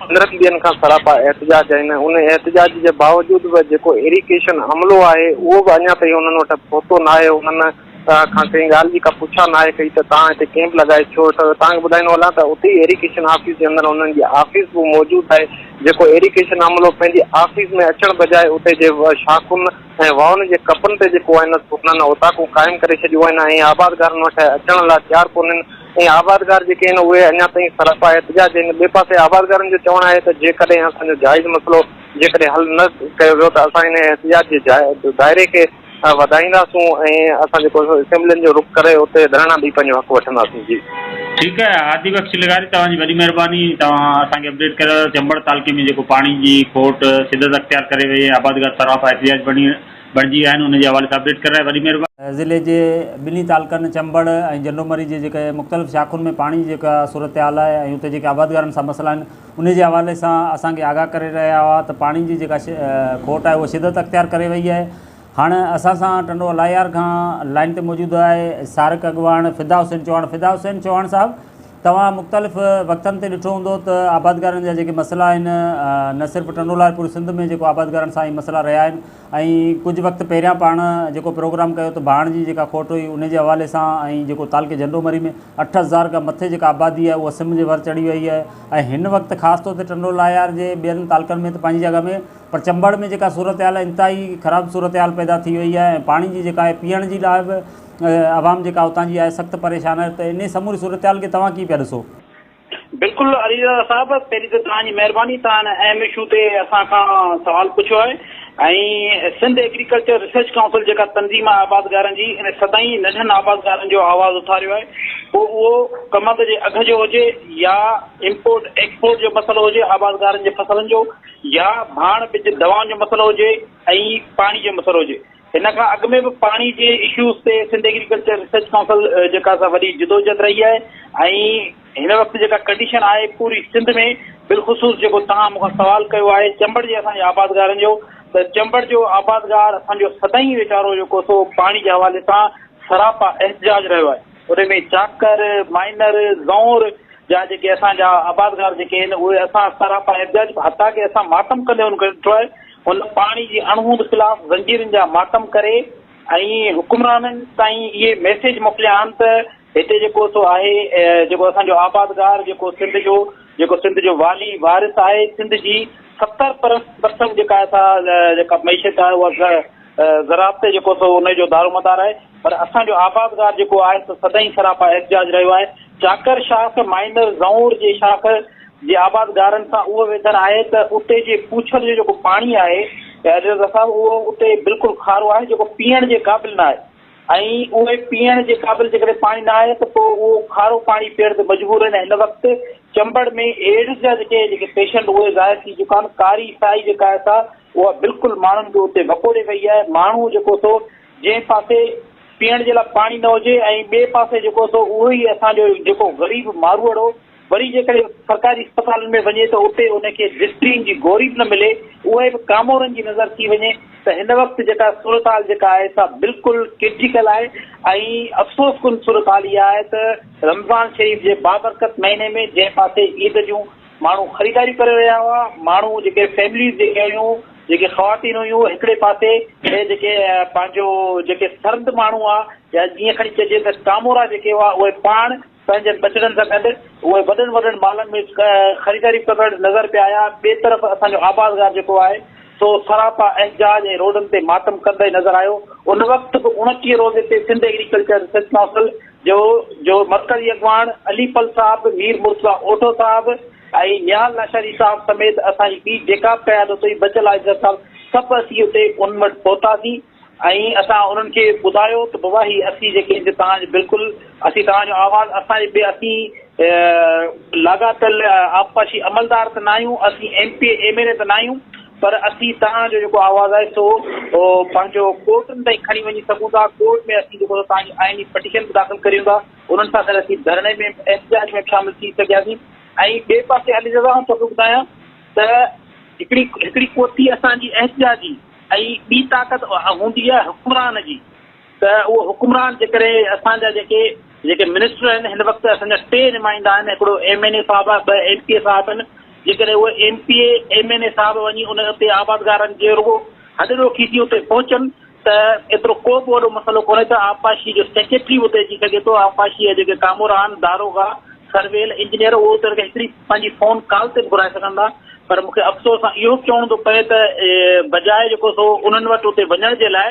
پندرهن ڏينهن کان سراپا احتجاج آهن ۽ ان احتجاج جي باوجود به جيڪو ايريڪيشن عملو آهي اهو به اڃا تائين انهن وٽ پهتو ناهي، انهن کان ڪنهن ڳالهه جي ڪا پڇا ناهي ڪئي ته توهان هتي ڪيمپ لڳائي ڇو ويٺا آهيو، توهان کي ٻڌائيندو هلان ته اتي ئي ايريڪيشن آفيس جي اندر انهن جي آفيس به موجود آهي جيڪو ايريڪيشن عملو پنهنجي آفيس ۾ اچڻ بجاء اتي جي شاخن ۽ واهن جي ڪپن تي جيڪو آهن سو انهن اوطاقون قائم ڪري ڇڏيون آهن ۽ آبادگارن وٽ اچڻ لاء تيار ڪونهن. ۽ آبادگار جيڪي آهن اهي اڃا تائين سراپا احتجاج آهن، ٻئي پاسي آبادگارن جو چوڻ آهي ته جيڪڏهن اسان جو جائز مسئلو جيڪڏهن حل نه ڪيو ويو ته اسان انهي احتجاج جي دائري کي وڌائينداسون ۽ اسان جيڪو اسيمبلين جو رخ ڪري اتي ڌرڻا ڏئي پنهنجو حق وٺنداسون. جي. ٺيڪ آهي هادي بخش لغاري توهان جي وڏي مهرباني توهان اسان کي اپڊيٽ ڪريو ته چمبڙ تعلقي ۾ جيڪو پاڻي جي کوٽ شدت اختيار ڪري وئي آهي آبادگار سراپا احتجاج بڻي بڻجي ويا آهن ان جي حوالي سان اپڊيٽ ڪرڻ لاء وڏي مهرباني. ضلعي جي ٻنهي تعلقن چمبڙ ۽ جنڊومري جي جيڪي مختلف شاخن ۾ پاڻي جي جيڪا صورتحال آهي ۽ اتي جيڪي آبادگارن سان مسئلا آهن ان جي حوالي سان اسان کي آگاهه ڪري رهيا هئا ته پاڻي جي جيڪا کوٽ آهي اها شدت اختيار ڪري وئي آهي هاڻ اسان سان ٽنڊو الاهيار کان لائين تي موجود آهي سارڪ اڳواڻ فدا حسين چوهاڻ فدا حسين چوهاڻ صاحب توهان مختلف وقتن تي ڏٺو هوندو ته آبادگارن جا جيڪي مسئلا آهن نه صرف ٽنڊولار پوري سنڌ ۾ جيڪو آبادگارن سان هي مسئلا رهيا آهن ۽ ڪجهه وقت پهريان پاڻ جيڪو پروگرام ڪيو ته ڀاڻ جي جيڪا کوٽ هئي ان جي حوالي سان ۽ جيڪو تعلقي جهنڊو مري ۾ اٺ هزار کان مٿي جيڪا آبادي آهي اها سم جي ور چڙهي وئي آهي ۽ هن وقت خاص طور تي ٽنڊولايار جي ٻين تعلقن ۾ ته پنهنجي جڳهه ۾ پر چمبڙ ۾ جيڪا صورتحال انتهائي خراب صورتحال پيدا ٿي وئي آهي ۽ پاڻي جي جيڪا آهي پيئڻ جي لاء به عوام جيڪا اتان جي آهي سخت پريشان آهي ته انهي سموري صورتحال کي توهان ڪيئن پيا ڏسو؟ بلڪل علي رضا صاحب پهرين ته توهان جي مهرباني توهان هن اهم اشو تي اسان کان سوال پڇيو آهي ۽ سنڌ ايگريڪلچر ريسرچ ڪائونسل جيڪا تنظيم آهي آبادگارن جي ان سدائين ننڍن آبادگارن جو آواز اٿاريو آهي پوء اهو ڪمند جي اگهه جو هجي يا امپورٽ ايڪسپورٽ جو مسئلو هجي آبادگارن جي فصلن جو يا ڀاڻ ٻج دوائن جو مسئلو هجي ۽ پاڻي جو مسئلو هجي ان کان اڳ ۾ به پاڻي جي اشوز تي سنڌ ايگريڪلچر ريسرچ ڪائونسل جيڪا سا وڏي جدوجھد رھي آھي ۽ ھن وقت جيڪا ڪنڊيشن آھي پوري سنڌ ۾ بلخصوص جيڪو توھان مون کان سوال ڪيو آھي چمبڙ جي اسان جي آبادگارن جو ته چمبڙ جو آبادگار اسان جو سدائين ويچارو جيڪو سو پاڻي جي حوالي سان سراپا احتجاج رھيو آھي ان ۾ چاڪر مائنر زئور جا جيڪي اسان جا آبادگار جيڪي آھن اھي اسان سراپا احتجاج حتا ڪي اسان ماتم ڪندي ھن کي ڏٺو آھي هن پاڻي جي اڻهوند خلاف زنجيرن جا ماتم ڪري ۽ حڪمرانن تائين اهي ميسيج موڪليا آهن ته هتي جيڪو سو آهي جيڪو اسان جو آبادگار جيڪو سنڌ جو جيڪو سنڌ جو والي وارث آهي سنڌ جي ستر پرسنٽ جيڪا آهي سا جيڪا معيشت آهي اها زراعت تي جيڪو سو ان جو دارومدار آهي پر اسان جو آبادگار جيڪو آهي سو سدائين سراپا احتجاج رهيو آهي چاڪر شاخ مائنر زئونر جي شاخ جي آبادگارن سان اهو ويڌن آهي ته اتي جي پوڇڙ جو جيڪو پاڻي آهي رضا صاحب اهو اتي بلڪل کارو آهي جيڪو پيئڻ جي قابل نه آهي ۽ اهي پيئڻ جي قابل جيڪڏهن پاڻي نه آهي ته پوء اهو کارو پاڻي پيئڻ تي مجبور آهن هن وقت چمبڙ ۾ ايڊز جا جيڪي جيڪي پيشنٽ اهي ظاهر ٿي چڪا آهن ڪاري سائي جيڪا آهي سا اها بلڪل ماڻهن کي اتي وڪوڙي وئي آهي ماڻهو جيڪو سو جنهن پاسي پيئڻ جي لاء پاڻي نه هجي ۽ ٻئي پاسي جيڪو سو اهو ئي اسان جو جيڪو غريب ماروئڙو وري جيڪڏهن سرڪاري اسپتالن ۾ وڃي ته اتي ان کي ڊسپرين جي گوري به نه ملي، اهي به ڪامورن جي نظر ٿي وڃي ته هن وقت جيڪا صورتحال جيڪا آهي سا بلڪل ڪرٽيڪل آهي ۽ افسوس ڪن صورتحال اها آهي ته رمضان شريف جي بابرڪت مهيني ۾ جنهن پاسي عيد جون ماڻهو خريداريون ڪري رهيا هئا، ماڻهو جيڪي فيمليز جيڪي هيون، جيڪي خواتين هيون هڪڙي پاسي ۽ جيڪي پنهنجو جيڪي سرد ماڻهو هئا يا جيئن کڻي چئجي ته ڪامورا جيڪي هئا اهي پاڻ، پنهنجن ٻچڙن سان گڏ اهي وڏن وڏن مالن ۾ خريداري ڪندڙ نظر پيا آيا. ٻئي طرف اسان جو آبادگار جيڪو آهي سو سراپا احجاج ۽ روڊن تي ماتم ڪندي نظر آيو. ان وقت به اوڻٽيهه روزي تي سنڌ ايگريڪلچر ريسرچ ڪائونسل جو جو مرڪزي اڳواڻ علي پل صاحب، مير مرتضيٰ اوڍو صاحب ۽ نهال لاشاري صاحب سميت اسان جي ٻي جيڪا به قيادت هئي بچل آفيسر صاحب سڀ اسين اتي انهن وٽ پهتاسين. ۽ اسان انهن کي ٻڌايو ته بابا هي اسين جيڪي هن توهان جي بلڪل اسين توهان جو آواز اسان جي ٻي اسين لاڳاپيل آبپاشي عملدار ته ناهيون اسين M P M N A ته ناهيون پر اسين توهان جو جيڪو آواز آهي سو پنهنجو ڪورٽن تائين کڻي وڃي سگهون ٿا ڪورٽ ۾ اسين جيڪو توهان جي آئيني پٽيشن به داخل ڪريون ٿا انهن سان گڏ اسين ڌرڻي ۾ احتجاج ۾ شامل ٿي سگهياسين ۽ ٻئي پاسي علي رضا آئون توکي ٻڌايان ته هڪڙي هڪڙي ڪوتي اسان جي احتجاجي ۽ ٻي طاقت اها هوندي آهي حڪمران جي ته اهو حڪمران جيڪڏهن اسان جا جيڪي جيڪي منسٽر آهن هن وقت اسان جا ٽي نمائندا آهن هڪڙو ايم اين اي صاحب آهي ٻه ايم پي اي صاحب آهن جيڪڏهن اهو M P A M N A صاحب وڃي ان اتي آبادگارن جي رڳو هڏ ڏوکي ٿي اتي پهچن ته ايترو ڪو به وڏو مسئلو ڪونهي ته آبپاشي جو سيڪريٽري به اتي اچي سگهي ٿو آبپاشي جا جيڪي ڪامورا آهن داروغا سرويل انجنيئر اهو اتي هڪڙي پنهنجي فون ڪال تي به گهرائي سگهن ٿا پر مون کي افسوس سان اهو به چوڻو ٿو پئي ته بجاء جيڪو سو انهن وٽ اتي وڃڻ جي لاء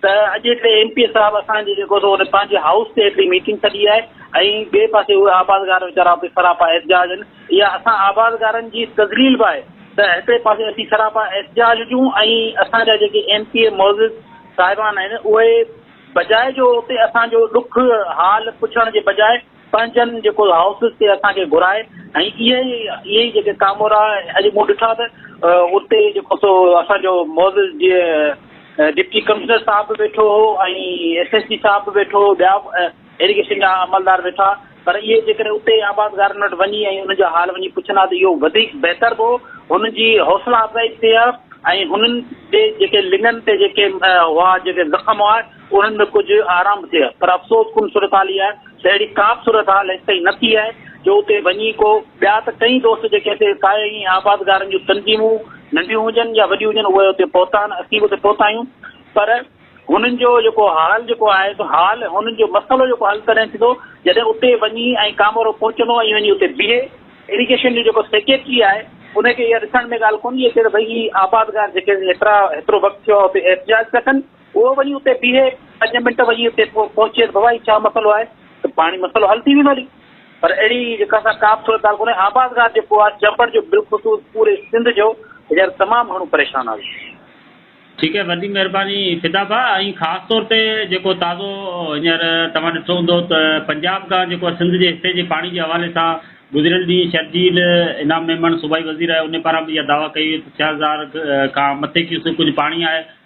ته اڄ هڪڙي ايم پي اي صاحب اسان جي جيڪو سو پنهنجي هائوس تي هڪڙي ميٽنگ سڏي آهي ۽ ٻئي پاسي اهي آبادگار ويچارا اتي سراپا احتجاج آهن اها اسان آبادگارن جي تذليل به آهي ته هڪڙي پاسي اسين سراپا احتجاج هجون ۽ اسان جا جيڪي ايم پي اي معزز صاحبان آهن اهي بجاء جو اتي اسان جو ڏک حال پڇڻ جي بجاء پنهنجن جيڪو هائوسز تي اسان کي گهرائي ۽ اهي ئي اهي ئي جيڪي ڪامورا اڄ مون ڏٺا ته اتي جيڪو سو اسان جو معزز جي ڊپٽي ڪمشنر صاحب به ويٺو هو ۽ ايس ايس پي صاحب به ويٺو هو ٻيا ايريگيشن جا عملدار ويٺا پر اهي جيڪڏهن اتي آبادگارن وٽ وڃي ۽ انهن جو حال وڃي پڇن ها ته اهو وڌيڪ بهتر به هو هنن جي حوصلا افزائي به ٿئي ها ۽ هنن جي جيڪي لڱن تي جيڪي هئا جيڪي زخم هئا انهن ۾ ڪجهه آرام به ٿئي ها پر افسوس ڪن صورتحال اها آهي ته اهڙي ڪا به صورتحال هيس تائين نه ٿي آهي جو اتي وڃي ڪو ٻيا ته ڪئين دوست جيڪي اتي ساهي ائين آبادگارن جون تنظيمون ننڍيون هجن يا وڏيون هجن اهي اتي پهتا آهن اسين به اتي پهتا آهيون پر هنن جو جيڪو حال جيڪو آهي سو حال هنن جو مسئلو جيڪو حل تڏهن ٿيندو جڏهن اتي وڃي ۽ ڪامورو پهچندو ۽ وڃي اتي بيهي ايريگيشن جو جيڪو سيڪريٽري آهي ان کي اها ڏسڻ ۾ ڳالهه ڪونه اچي ته ڀئي هي آبادگار جيڪي هيترا هيترو وقت ٿيو آهي اتي احتجاج ٿا ڪن اهو وڃي اتي بيهي پنج منٽ وڃي اتي پهچيس بابا هي ڇا مسئلو آهي ته پاڻي مسئلو حل ٿي ويندو هلي پر اهڙي جيڪا سا ڪا به صورت حال ڪونهي آبادگار جيڪو آهي چمبڙ جو بالخصوص پوري سنڌ جو هينئر تمام گهڻو پريشان آهي ٺيڪ آهي وڏي مهرباني فدا ڀا ۽ خاص طور تي جيڪو تازو هينئر توهان ڏٺو هوندو ته پنجاب کان جيڪو سنڌ جي حصي جي پاڻي جي حوالي سان گذريل ڏينهن شرجيل انعام ميمڻ صوبائي وزير آهي ان پاران به اها دعويٰ ڪئي وئي ته ڇهه هزار کان مٿي ڪيوسڪ ڪجهه پاڻي آهي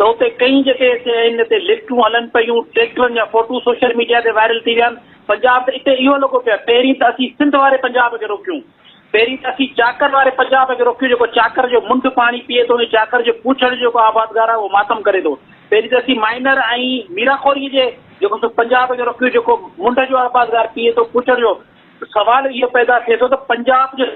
ته اتي ڪئين جيڪي اتي آهن اتي لفٽون هلن پيون، ٽريڪٽرن جا فوٽو سوشل ميڊيا تي وائرل ٿي ويا آهن، پنجاب ته اتي اهو لڳو پيو آهي، پهرين ته اسين سنڌ واري پنجاب کي روڪيون، پهرين ته اسين چاڪر واري پنجاب کي روڪيون جيڪو چاڪر جو منڍ پاڻي پيئي ٿو ۽ چاڪر جو پوڇڙ جو جيڪو آبادگار آهي اهو ماتم ڪري ٿو، پهرين ته اسين مائنر ۽ ميراخوري جي جيڪو سو پنجاب کي روڪيون جيڪو منڍ جو آبادگار پيئي ٿو پوڇڙ جو، سوال اهو پيدا ٿئي ٿو ته پنجاب جو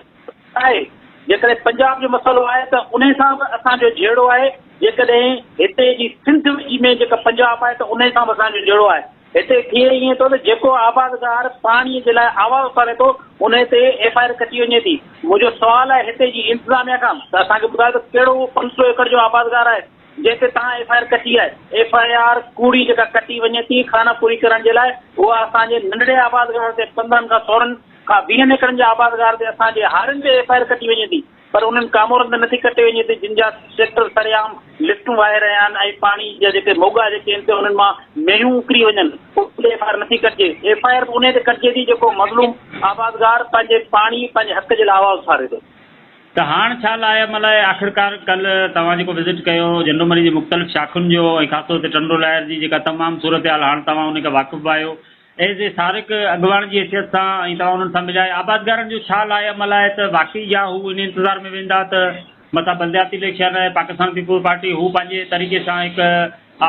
آهي، جيڪڏهن پنجاب جو مسئلو آهي ته انهي سان به اسان جو جهيڙو آهي، جيڪڏهن هتي جي سنڌ ۾ جيڪا پنجاب آهي ته انهي سان به اسان جو جهيڙو آهي، هتي ٿئي ائين ٿو ته جيڪو آبادگار پاڻي جي لاء آواز اٿاري ٿو انهي تي ايف آء آر ڪٽي وڃي ٿي، منهنجو سوال آهي هتي جي انتظاميا کان ته اسان کي ٻڌايو ته ڪهڙو اهو پنج سؤ ايڪڙ جو آبادگار آهي جنهن تي توهان ايف آء آر ڪٽي آهي، ايف آء آر ڪوڙي جيڪا ڪٽي وڃي ٿي خانه پوري ڪرڻ جي لاء اها اسان جي ننڍڙي آبادگار تي پندرهن کان سورهن ڪا ويهن ايڪڙن جي آبادگار تي اسان جي هارين تي ايف آء آر ڪٽي وڃي ٿي پر انهن ڪامورن تي نٿي ڪٽي وڃي ٿي جن جا ٽريڪٽر سرعام لفٽون واهي رهيا آهن ۽ پاڻي جا جيڪي موڳا جيڪي آهن تي انهن مان مينهون اڪري وڃن ان تي ايف آء آر نٿي ڪٽجي ايف آء آر به انهي تي ڪٽجي ٿي جيڪو مظلوم آبادگار پنهنجي پاڻي پنهنجي حق جي لاء آواز اٿاري ٿو. ته هاڻ ڇا لاء ام لاء آخرڪار ڪلهه توهان جيڪو وزٽ ڪيو جهنڊومري جي مختلف شاخن جو ۽ خاص طور تي ٽنڊو لاهر جي جيڪا تمام صورتحال هاڻ توهان ان کان واقف به آهيو ايز اي سارق اڳواڻ جي حيثيت سان ۽ توهان انهن سان مليا آهيو آبادگارن جو ڇا لاء عمل آهي ته واقعي يا هو انهي انتظار ۾ ويندا ته مٿان بلدياتي اليڪشن آهي پاڪستان پيپلز پارٽي هو پنهنجي طريقي سان هڪ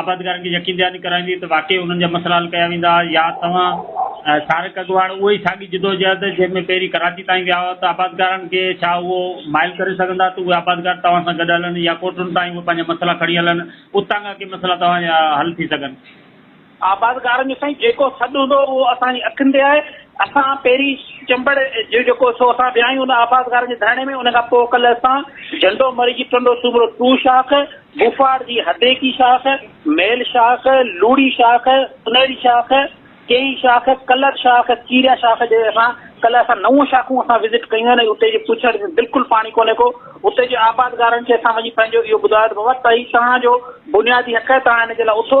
آبادگارن کي يقين دهاني ڪرائيندي ته واقعي انهن جا مسئلا حل ڪيا ويندا يا توهان سارق اڳواڻ اهو ئي ساڳي جدوجهد جنهن ۾ پهرين ڪراچي تائين ويا هئا ته آبادگارن کي ڇا اهو مائل ڪري سگهندا ته اهي آبادگار توهان سان گڏ هلن يا ڪوٽن تائين اهي پنهنجا مسئلا کڻي هلن اتان کان ڪي مسئلا توهان جا حل ٿي سگهن آبادگارن جو سائين جيڪو سڏ هوندو هو اهو اسان جي اکين تي آهي، اسان پهرين چنبڙ جو جيڪو سو اسان ويا آهيون ان آبادگارن جي ڌرڻي ۾ ان کان پوء ڪلهه اسان جهنڊو مري جي ٽنڊو سومرو ٽو شاخ، بوفاڙ جي هديڪي شاخ، ميل شاخ، لوڙي شاخ، سنهڙي شاخ، ڪيئي شاخ، ڪلر شاخ، چيريا شاخ جي اسان ڪلهه اسان نو شاخون اسان وزٽ ڪيون آهن ۽ اتي جي پڇڙ ۾ بلڪل پاڻي ڪونهي ڪو اتي جي آبادگارن کي اسان وڃي پنهنجو اهو ٻڌايو ته بابا تهي توهان جو بنيادي حق آهي توهان هن جي لاء اٿو،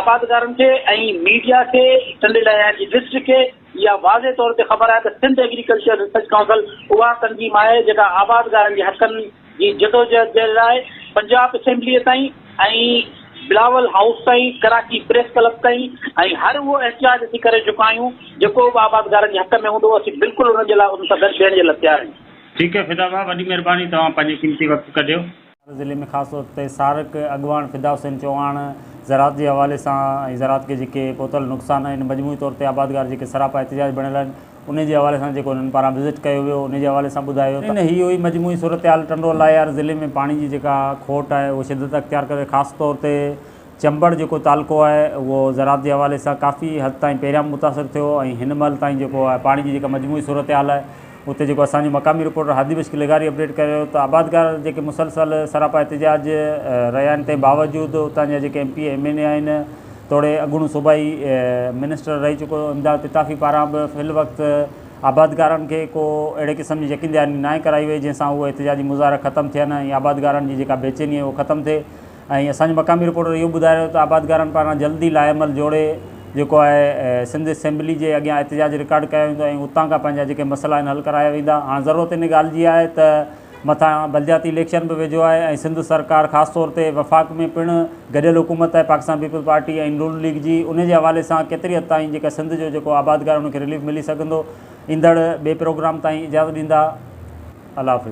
آبادگارن کي ۽ ميڊيا کي ٽنڊي لهيار جي ڊسٽرڪٽ کي اها واضح طور تي خبر آهي ته سنڌ ايگريڪلچر ريسرچ ڪائونسل اها تنظيم آهي جيڪا آبادگارن جي حقن جي جدوجهد جي لاء پنجاب اسيمبليء تائين ۽ بلاول هائوس تائين ڪراچي پريس ڪلب تائين ۽ هر اهو احتجاج اسين ڪري چڪا آهيون جيڪو به آبادگارن جي حق ۾ هوندو اسين بلڪل ان جي لاء ان سان گڏ بيهڻ جي لاء تيار آهيون. ٺيڪ آهي فدا ڀاء وڏي مهرباني توهان پنهنجو قيمتي وقت ڪڍيو. ٿر ضلعي ۾ خاص طور تي سارڪ اڳواڻ فدا حسين چوهاڻ زراعت جي حوالي سان ۽ زراعت کي جيڪي پهتل نقصان آهن مجموعي طور تي آبادگار جيڪي سراپا احتجاج بڻيل آهن انهي جي حوالي سان جيڪو هنن پاران وزٽ ڪيو ويو انهي جي حوالي سان ٻڌايو ته هي هئي مجموعي صورتحال ٽنڊو الاهيار ضلعي ۾ پاڻي جي جيڪا کوٽ آهي اهو شدت اختيار ڪري خاص طور تي چمبڙ جيڪو تعلقو آهي اهو زراعت جي حوالي سان ڪافي حد تائين پهريان به متاثر ٿيو ۽ هن مهل تائين جيڪو آهي پاڻي جي جيڪا مجموعي صورتحال آهي اتي جيڪو اسان جو مقامي رپورٽر هادي مشڪ لغاري اپڊيٽ ڪري رهيو ته آبادگار جيڪي مسلسل سراپا احتجاج رهيا آهن تنهن باوجود اتان جا جيڪي M P M N A آهن توڙي اڳوڻو صوبائي منسٽر رهي چڪو امداد پتافي پاران به في الوقت آبادگارن کي ڪو اهڙي قسم جي يقين دهاني ناهي ڪرائي وئي جنهن سان اهي احتجاجي مظاهرا ختم ٿين ۽ آبادگارن جي جيڪا بيچيني آهي اهو ختم ٿئي ۽ اسان جي مقامي رپورٽر اهو ٻڌائي رهيو ته آبادگارن پاران جلد ئي لائحهعمل جوڙي جيڪو آهي سنڌ اسيمبلي جي اڳيان احتجاج رڪارڊ ڪيو ويندو ۽ اتان کان پنهنجا جيڪي مسئلا آهن حل ڪرايا ويندا هاڻ ضرورت ان ڳالهه جي آهي ته مٿان بلدياتي اليڪشن به ويجهو آهي ۽ سنڌ سرڪار خاص طور تي وفاق ۾ پڻ گڏيل حڪومت آهي پاڪستان پيپلز پارٽي ۽ نون ليگ جي ان جي حوالي سان ڪيتري حد تائين جيڪا سنڌ جو جيڪو آبادگار ان کي رليف ملي سگهندو ايندڙ ٻي پروگرام تائين اجازت ڏيندا الله حافظ.